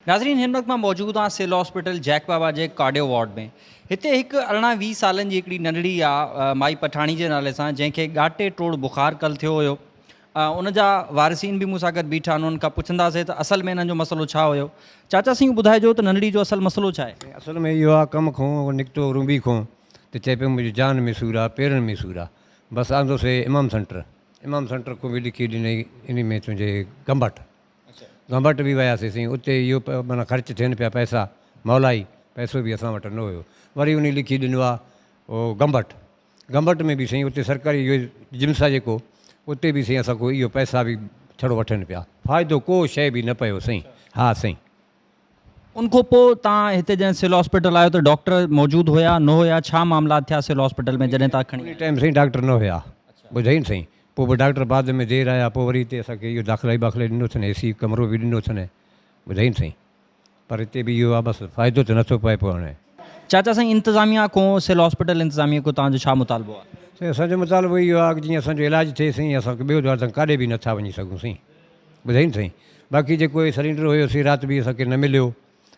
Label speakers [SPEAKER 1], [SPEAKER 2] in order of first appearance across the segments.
[SPEAKER 1] ناظرين هن وقت مان موجود آهيان سول هاسپيٽل جيڪ بابا جي ڪارڊيو وارڊ ۾ هتي هڪ ارڙهن ويهه سالن جي هڪڙي ننڍڙي آ مائي پٺاڻي جي نالي سان جنهن کي ڳاٽي ٽوڙ بخار ڪل ٿيو هيو ان جا وارثين به مون سان گڏ بيٺا آهن انهن کان پڇنداسين ته اصل ۾ انهن جو مسئلو ڇا هيو چاچا سائين ٻڌائجو ته ننڍڙي جو اصل مسئلو ڇا آهي. اصل ۾ اهو آ ڪم
[SPEAKER 2] کان هو نڪتو رومبي کان ته چئي پيو منهنجي جان ۾ سور آ پيرن ۾ سور آ بس آندوسي امام سينٽر امام سينٽر کان به لکي ڏنئي انهي ۾ تنهنجي گمبٽ گهمبٽ به وياسي سين اتي اهو معنيٰ خرچ ٿين پيا پئسا مولائي پئسو به اسان وٽ نه هيو وري انهي لکي ڏنو آ او گهمبٽ گهمبٽ ۾ به سائين اتي سرڪاري اهو جمس آ جيڪو اتي به سائين اسان کان اهو پئسا به ڇڙو وٺن پيا فائدو ڪو شئي به نه پيو سائين ها سائين. ان
[SPEAKER 1] کان پوء توهان هتي جڏهن سول هاسپيٽل آيو ته ڊاڪٽر موجود هيا نه هيا ڇا معاملات ٿيا سول هاسپيٽل ۾ جڏهن توهان کڻي آيا. ان ٽائيم سائين ڊاڪٽر نه
[SPEAKER 2] هيا ٻڌئي نه سائين پوء به ڊاڪٽر بعد ۾ دير آيا پوء وري هتي اسان کي اهو داخلائي باخلائي ڏنو اٿن اي سي ڪمرو به ڏنو اٿن ٻڌئي نه سائين پر هتي به اهو آ بس فائدو ته نٿو پئي پوء هاڻي. چاچا سائين
[SPEAKER 1] انتظاميا کان سول هاسپيٽل انتظاميا کان توهان جو ڇا مطالبو آ. سائين اسان جو مطالبو
[SPEAKER 2] اهو آ جيئن اسان جو علاج ٿئي سائين اسان کي ٻيو دوا ته ڪاڏي به نٿا وڃي سگهون سائين. ٻڌئي نه سائين باقي جيڪو هي سلينڊر هيو سي رات به اسان کي نه مليو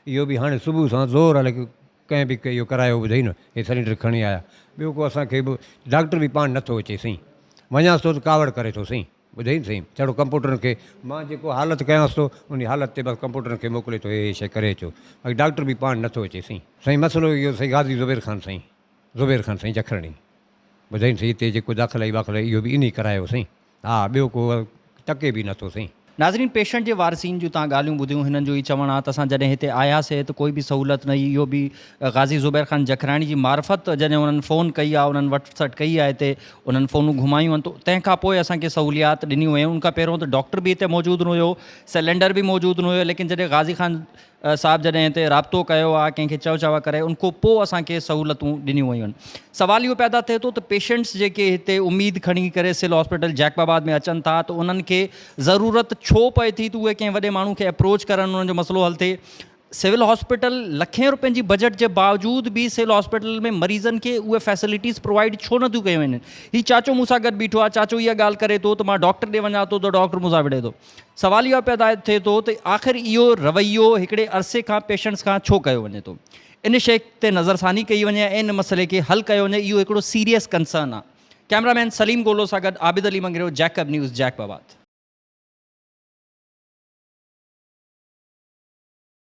[SPEAKER 2] اهو به هاڻي صبح سان زور هلي ڪنهن به اهو ڪرايو ٻڌئي نه هي سلينڊر کڻي آيا ٻيو ڪو اسان کي به ڊاڪٽر به پاڻ نٿو اچي سائين وڃانس ٿو ته ڪاوڙ ڪري ٿو سائين ٻڌئي نه سائين ڇڙو ڪمپوٽرن کي مان جيڪو حالت ڪيانس ٿو انهي حالت تي بس ڪمپوٽرن کي موڪلي ٿو هي هي شي ڪري اچو باقي ڊاڪٽر به پاڻ نٿو اچي سائين سائين مسئلو اهو سائين غازي زبير خان سائين زبير خان سائين جکرڻي ٻڌئي نه سائين هتي جيڪو داخلائي واخلائي اهو به انهي ڪرايو سائين ها ٻيو ڪو ٽڪي به نٿو سائين. ناظرين پيشنٽ جي
[SPEAKER 1] وارثين جون تان ڳالهيون ٻڌيون هنن جو هي چوڻ آ ته اسان جڏهن هتي آياسي ته ڪوئي به سهولت نه هئي اهو به غازي زبير خان جکراڻي جي معرفت جڏهن انهن فون ڪئي آ انهن وٽ سٽ ڪئي آ هتي انهن فونون گهمايون آن تنهن کان پوء اسان کي سهوليات ڏنيون ويون ان کان پهريون ته ڊاڪٽر به هتي موجود نه هيو سلينڊر به موجود نه هيو ليڪن جڏهن غازي خان صاحب جڏهن هتي رابطو ڪيو آ ڪنهن کي چئو چوا ڪري ان کون پو اسان کي سهولتون ڏنيون ويون آهن سوال اهو پيدا ٿئي ٿو ته پيشنٽس جيڪي هتي اميد کڻي ڪري سول هاسپيٽل جيڪب آباد ۾ اچن ٿا ته انهن کي ضرورت ڇو پئي ٿي ته اهي ڪنهن وڏي ماڻهو کي اپروچ ڪرن انهن جو مسئلو حل ٿئي سول هاسپيٽل لکين روپين جي بجيٽ جي باوجود به سول هاسپيٽل ۾ مريضن کي اهي فيسلٽيز پرووائيڊ ڇو نه ٿيون ڪيون وڃن هي چاچو مون سان گڏ بيٺو آ چاچو اها ڳالهه ڪري ٿو ته مان ڊاڪٽر ڏي وڃان ٿو ته ڊاڪٽر مون سان وڙهي ٿو سوال اهو پيدا ٿئي ٿو ته آخر اهو رويو هڪڙي عرصي کان پيشنٽس کان ڇو ڪيو وڃي ٿو؟ ان شيء تي نظرثاني ڪئي وڃي ۽ ان مسئلي کي حل ڪيو وڃي اهو هڪڙو سيريس ڪنسرن آهي. ڪئميرا مين سليم گولو سان گڏ Abid Ali Mangrio Jacob news Jacobabad.